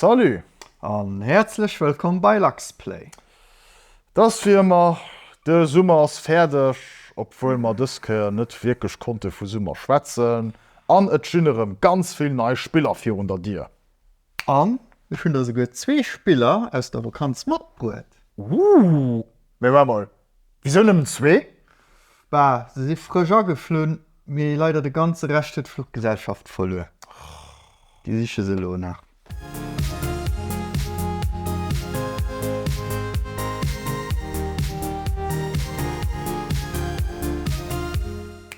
Salut an häerzlech wëllkomm bei Luxplay. Dass fir mer, de Summer ass fäerdeg, obwuel mer dës Kéier net wierklech konnte vu Summer schwätzen, an et stinn erëm ganz vill nei Spiller virun der Dier. An ech hunn der souguer zwee Spiller aus der Vakanz matbruet. Ooh, mee waart mol, Wisou nëmmen zwee? Bah, se si frësch ageflunn, mee leider de ganze Rescht huet d'Fluchgesellschaft verluer. Déi siche se elo nach.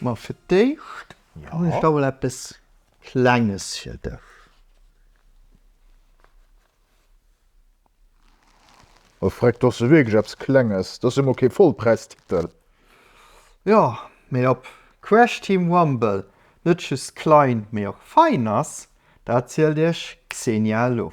Ma fir d'éischt hunn ech da mol eppes Klenges fir dech. O freck, do ass jo wierklech eppes Klenges, do ass jo mol kee Vollpräistitel. Jo, mee ob Crash Team Rumble net just klein, mee och fein ass, dat zielt iech Xenia elo.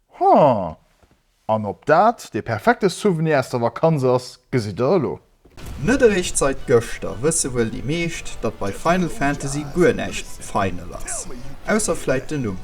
Haa! An ob dat dee perfekte Souvenir aus der Vakanz ass, gesitt der elo. Net eréischt seit gëschter wësse wuel déi meescht, datt bei Final Fantasy guer näischt final ass, ausser vläit den Numm.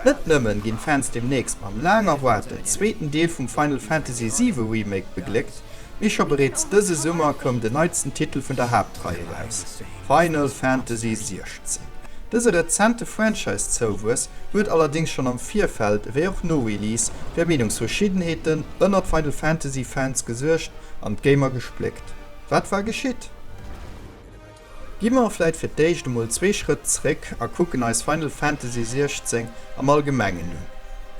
Net nëmmen ginn d'Fans deemnächst mam laang erwaarten zweeten Deel vum Final Fantasy VII Remake begléckt, mee scho bereets dëse Summer koum den neitsten Titel vun der Haaptrei eraus. Final Fantasy 16. Dëse rezente Franchise-Zouwuess huet allerdéngs schonn am Virfeld ewéi och no Release fir Meenungsverschiddenheeten ënnert Final Fantasy Fans gesuergt an d'Gamer gespléckt. Wat war geschitt? Gi mer vläit fir d'éischt emol zwee Schrëtt zréck a kucken eis Final Fantasy 16 am Allgemengen un.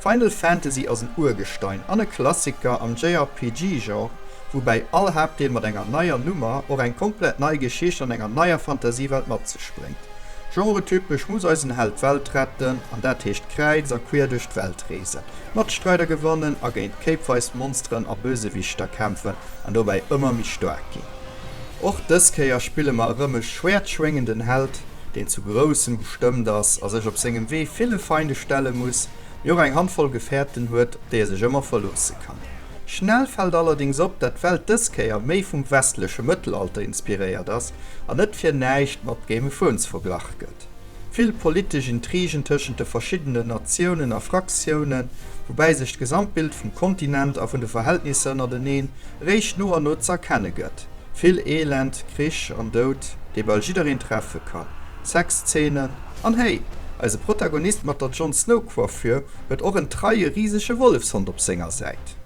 Final Fantasy ass en Urgestein an e Klassiker am JRPG-Genre, woubäi all Haaptdeel mat enger neier Nummer och eng komplett nei Geschicht an enger neier Fantasiewelt mat sech bréngt. Genretypesch muss eisen Held d'Welt retten, an dat heescht kräiz a quier duerch d'Welt reesen, Matstreider gewannen a géint kéipweis Monsteren a Bösewichter kämpfen an dobäi ëmmer méi staark ginn. Och dës Kéier spille mer erëm e schwäertschwéngenden Held, deen zu Groussem bestëmmt ass a sech op sengem Wee ville Feinde stelle muss, mee och eng Handvoll Gefäerten huet, op déi e sech ëmmer verloosse kann. Schnell fällt allerdings op, dat d'Welt dës Kéier méi vum westleche Mëttelalter inspiréiert ass a net fir näischt mat Game of Thrones verglach gëtt. Vill politesch Intrigen tëschent de verschiddenen Natiounen a Fraktiounen, woubäi sech d'Gesamtbild vum Kontinent a vun de Verhältnisser ënnerteneen eréischt no an no z'erkenne gëtt. Vill Elend, Krich an Doud, dee bal jiddereen treffe kann, Sexzeenen an, hey, eise Protagonist mat der Jon Snow-Coiffure huet och en treie risege Wollefshond op senger Säit.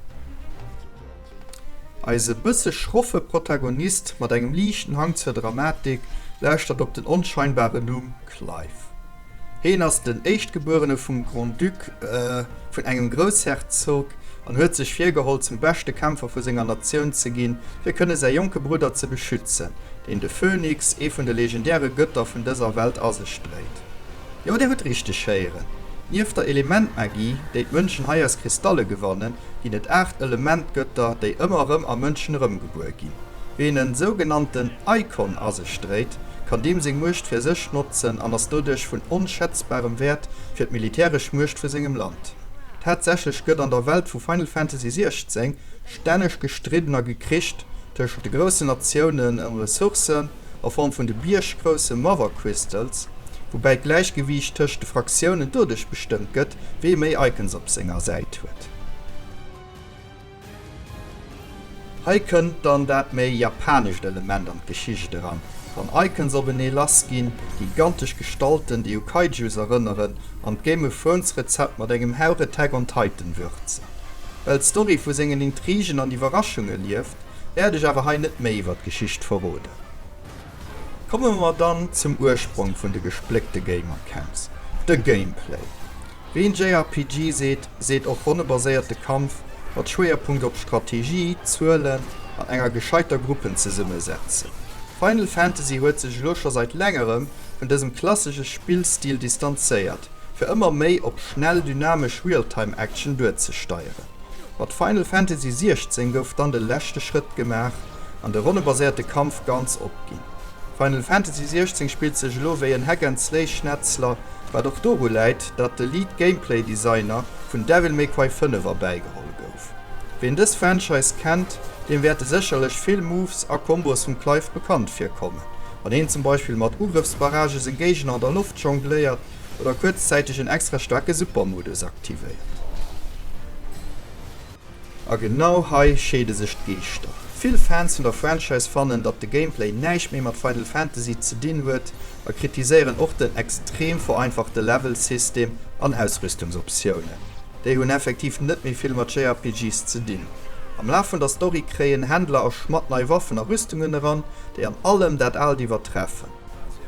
Eise bësse schroffe Protagonist mat engem liichten Hang zur Dramatik lauschtert op den onscheinbaren Numm Clive. Heen ass den Éischtgebuerene vum Grand-Duc vun engem Groussherzog an huet sech virgeholl, zum beschte Kämpfer vu senger Natioun ze ginn, fir kënne säi jonke Brudder ze beschützen, deen de Phönix, ee vun de legendäre Götter vun dëser Welt, a sech dréit. Jo, dir hutt richteg héieren, Nieft der Elementmagie, déi d'Mënschen hei aus Kristalle gewannen, ginn et aacht Elementgötter, déi ëmmer erëm a Mënschen erëmgebuer ginn. Ween en sougenannten Eikon a sech dréit, kann deem seng Muecht fir sech notzen an ass doduerch vun onschätzbarem Wäert fir d'militäresch Muecht vu sengem Land. Tatsächlech gëtt an der Welt vu Final Fantasy 16 stänneg gestridden a gekricht tëschent de groussen Natiounen ëm Ressourcen, a Form vun de bierggrousse Mother Crystals, woubäi d'Gläichgewiicht tëscht de Fraktiounen doduerch bestëmmt gëtt, wee méi Icons op senger Säit huet. Hei kënnt dann dat méi japanescht Element an d'Geschicht eran, wann Icons openee lassginn, gigantesch Gestalten, déi u Kaijus erënneren, an d'Game of Thrones Rezept mat engem Hauch Attack on Titan würzen. Well d'Story vu sengen Intrigen an Iwwerraschunge lieft, wäert ech awer hei net méi iwwer d'Geschicht verroden. Komme mer dann zum Ursprong vun de gespléckte Gamer-Camps, de Gameplay. Ween JRPG seet, seet och ronnebaséierte Kampf mat Schwéierpunkt op Strategie, Zuelen an enger gescheiter Gruppenzesummesezung. Final Fantasy huet sech elo scho seit längerem vun dësem klassesche Spillstil distanzéiert, fir ëmmer méi op schnell, dynamesch Realtime-Action duerzesteieren. Mat Final Fantasy 16 gouf dann de leschte Schrëtt gemaach an de ronnebaséierte Kampf ganz opginn. Final Fantasy 16 spillt sech elo wéi en Hack and Slay Schnetzler, wat och doru läit, datt de Lead Gameplay Designer vun Devil May Cry 5 erbäigeholl gouf. Ween dës Franchise kennt, deem wäerte sécherlech vill Moves a Combos vum Clive bekannt virkommen, wann een zum Beispill mat Ugrëffsbarragë seng Géigner an der Loft jongléiert, oder kuerzzäiteg en extra staarke Supermodus aktivéiert. A genau hei scheede sech d'Geeschter. Vill Fans vun der Franchise fannen, datt de Gameplay näischt méi mat Final Fantasy ze dinn huet a kritiséieren och den extrem vereinfachte Level-System an Ausrüstungsoptiounen. Déi hunn effektiv net méi vill mat JRPGs ze dinn. Am Laf vun der Story kréien Händler a Schmadd nei Waffen a Rüstungen eran, déi an allem dat Aalt iwwertreffen.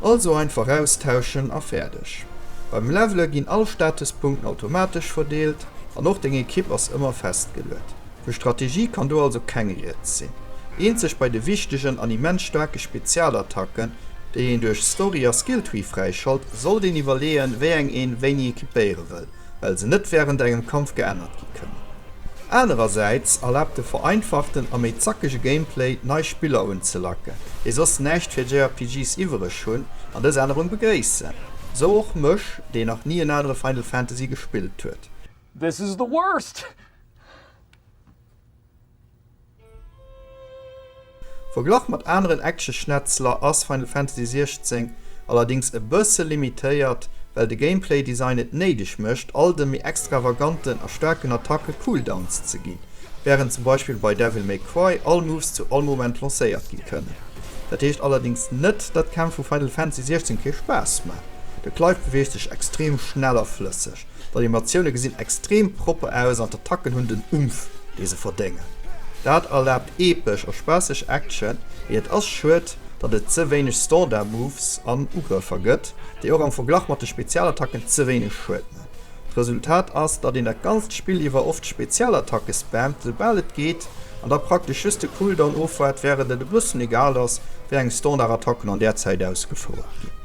Also einfach austauschen a fäerdeg. Beim Levele ginn all Statespunkten automatesch verdeelt an och deng Ekipp ass ëmmer festgeluet. Vu Strategie kann do also keng Rieds sinn, eenzeg bei de wichtegen an immens staarke Spezialattacken, déi een duerch Story a Skilltree fräischalt, sollt een iwwerleeën, wéi eng een wéini ekipéiere wëll. well se net wärend engem Kampf geännert gi kënnen. Anerersäits erlaabt de vereinfachten a méi zackege Gameplay, nei Spiller unzelacken, déi soss näischt fir JRPGs iwwereg hunn an dës Ännerung begréissen. Sou och mech, deen nach ni en anere Final Fantasy gespillt huet. This is the worst! Verglach mat aneren Action-Schnetzler ass Final Fantasy 16 allerdéngs e bësse limitéiert, well de Gameplay-Design et néideg mécht, all de méi extravaganten a staarken Attacke Cooldowns ze ginn, wärend zum Beispill bei Devil May Cry all Moves zu all Moment lancéiert gi kënnen. Dat heescht allerdéngs net, datt d'Kämpf vu Final Fantasy 16 kee Spaass maachen. De Clive beweegt sech extrem schnell a flësseg. D'Animatioune gesinn extrem propper aus an d'Attacken hunn den Umf, dee se verdéngen. Dat erlaabt epesch a spaasseg Action, mee et ass schued, datt et ze wéineg Standard-Moves an Ugrëffer gëtt, déi och am Verglach mat de Spezialattacken ze wéineg Schued man. D'Resultat ass, datt een dat ganzt Spill iwwer oft Spezialattacke spammt, esoubal et geet, an da praktesch just de Cooldown ofwaart, wärend et e bëssen egal ass, wéi eng Standard-Attacken an där Zäit ausgefouert ginn.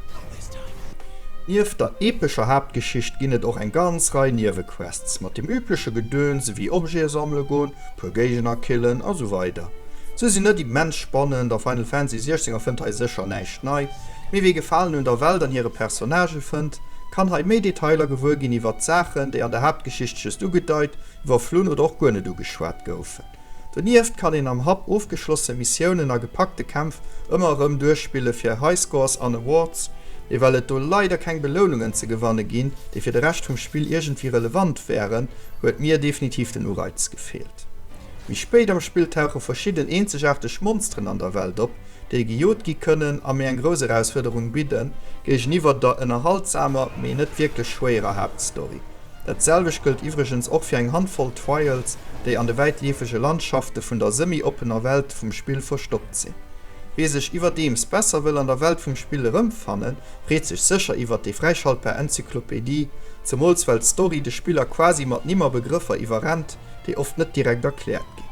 Nieft der epescher Haaptgeschicht ginn et och eng ganz Rei Niewequests mat dem übleche Gedöns ewéi Objete sammele goen, puer Géigner killen a sou weider. Se sinn net immens spannend a Final Fantasy 16 erfënnt hei sécher näischt nei, mee wie Gefalen un der Welt an hire Personnagë fënnt, kann hei méi Detailer gewuer ginn iwwert Saachen, déi an der Haaptgeschicht just ugedeit, iwwerflunn oder och guer net ugeschwat goufen. Donieft kann een am Hub ofgeschlosse Missiounen a gepackte Kämpf ëmmer erëm duerchspille fir Highscores an Awards, mee well et do leider keng Belounungen ze gewanne ginn, déi fir de Rescht vum Spill iergendwéi relevant wären, huet mir definitiv den Ureiz gefeelt. Méi spéit am Spill tauche verschidden eenzegaarteg Monsteren an der Welt op, déi gejot gi kënnen a mir eng grouss Erausfuerderung bidden, géigeniwwer der ënnerhaltsamer, mee net wierklech schwéierer Haaptstory. Dat selwecht gëllt iwwregens och fir eng Handvoll Trials, déi an de wäitleefege Landschafte vun der semi-oppener Welt vum Spill verstoppt sinn. Wee sech iwwerdeems besser wëll an der Welt vum Spill erëmfannen, freet sech sécher iwwert déi fräischaltbar Enzyklopedie, zemools well d'Story de Spiller quasi mat Nimm a Begrëffer iwwerrennt, déi oft net direkt erkläert ginn.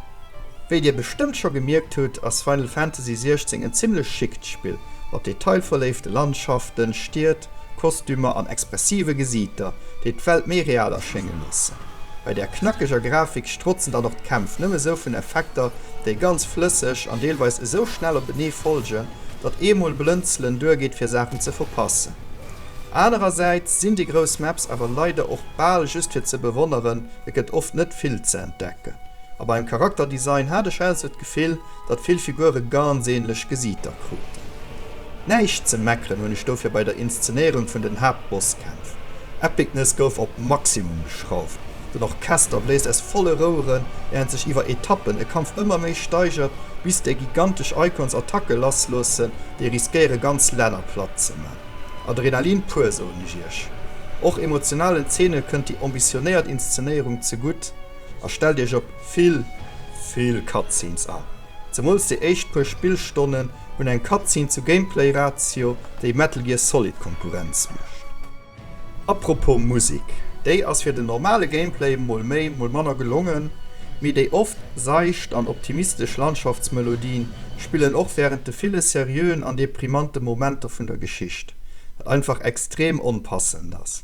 Wéi dir bestëmmt scho gemierkt hutt, ass Final Fantasy 16 en zimmlech schickt Spill, mat detailverléifte Landschaften, Stied, Kostümer an expressive Gesiiter, déi d'Welt méi real erschénge loossen. Bei där knackeger Grafik strotzen dann och d'Kämpf nëmme sou vun Effekter, déi ganz flësseg an deelweis esou schnell openee folgen, datt eemol Blënzelen duergeet fir Saachen ze verpassen. Anerersäits sinn déi grouss Maps awer leider och bal just fir ze bewonneren, et gëtt oft net vill ze entdecken. A beim Charakterdesign hat ech also d'Gefill, datt vill Figure ganz ähnlech Gesiiter kruten. Näischt ze meckeren hunn ech dofir bei der Inszenéierung vun den Haaptbosskämpf. Epicness gouf op Maximum geschrauft. Den Orchester bléist aus volle Roueren, während sech iwwer Etappen e Kampf ëmmer méi steigert, bis déi gigantesch Icons Attacke lassloossen, déi riskéiere ganz Länner platt ze man. Adrenalin pur, soen ech iech. Och emotionalen Zeene kënnt déi ambitionéiert Inszenéierung zegutt, a stellt iech op, Vill vill Cutscenes an zemools déi éischt puer Spillstonnen hunn eng Cutscene zu Gameplay Ratio déi Metal Gear Solid Konkurrenz mécht. Apropos Musik, déi ass fir den normale Gameplay mol méi mol manner gelongen, mee déi oft seicht an optimistesch Landschaftsmelodien spillen och wärend de ville seriöen an deprimante Momenter vun der Geschicht, wat einfach extrem onpassend ass.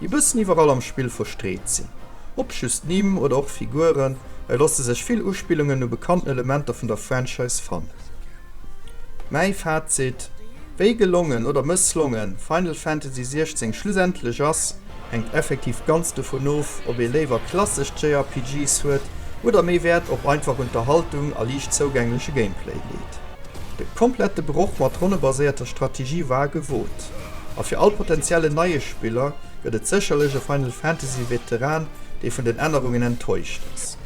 E bëssen iwwerall am Spill verstreet sinn, ob just Nimm oder och Figuren, et losse sech vill Uspillungen u bekannten Elementer vun der Franchise fannen. Mäi Fazit, Wéi gelongen oder mësslongen Final Fantasy 16 schlussendlech ass, hänkt effektiv ganz dovun of, ob ee léiwer klassesch JRPGs huet oder méi Wäert op einfach Unterhaltung a liicht zougängleche Gameplay leet. De komplette Broch mat ronnebaséierter Strategie war gewot. A fir all potentiellen neie Spiller gëtt et sécherlech e Final Fantasy Veteran, dee vun den Ännerungen enttäuscht ass.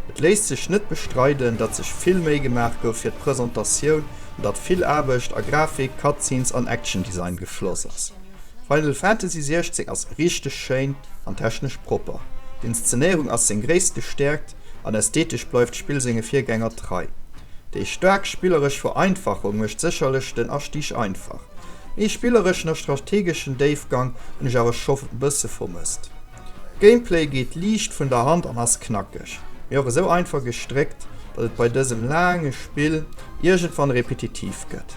Et léisst sech net bestreiden, datt sech vill Méi gemaach gouf fir d'Presentatioun an datt vill Aarbecht a Grafik, Cutscenes an Action Design gefloss ass. Final Fantasy 16 ass richteg schéin an technesch propper. D'Inszenéierung ass seng gréisste Stäerkt. an ästhetesch bleift d'Spill senge Virgänger trei. Déi staark spilleresch Vereinfachung mécht sécherlech den Astig einfach. Méi spillereschen a strategeschen Déifgang hunn ech awer scho bësse vermësst. D'Gameplay geet liicht vun der Hand an ass knackeg, mee och esou einfach gestréckt, datt et bei dësem laange Spill iergendwann repetitiv gëtt.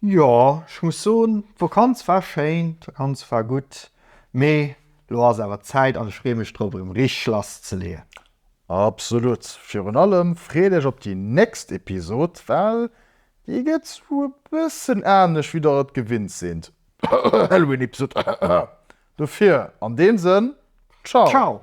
Jo, ech muss soen, d'Vakanz war schéin, d'Vakanz war gutt, mee elo ass awer Zäit an ech freeë mech drop erëm richteg lass ze leeën. Absolut, virun allem freet iech op déi nächst Episod, well déi gëtt esou e bëssen anescht wéi der et gewinnt sinn, Halloween-Episod. Dofir an deem Sënn, Ciao! Ciao!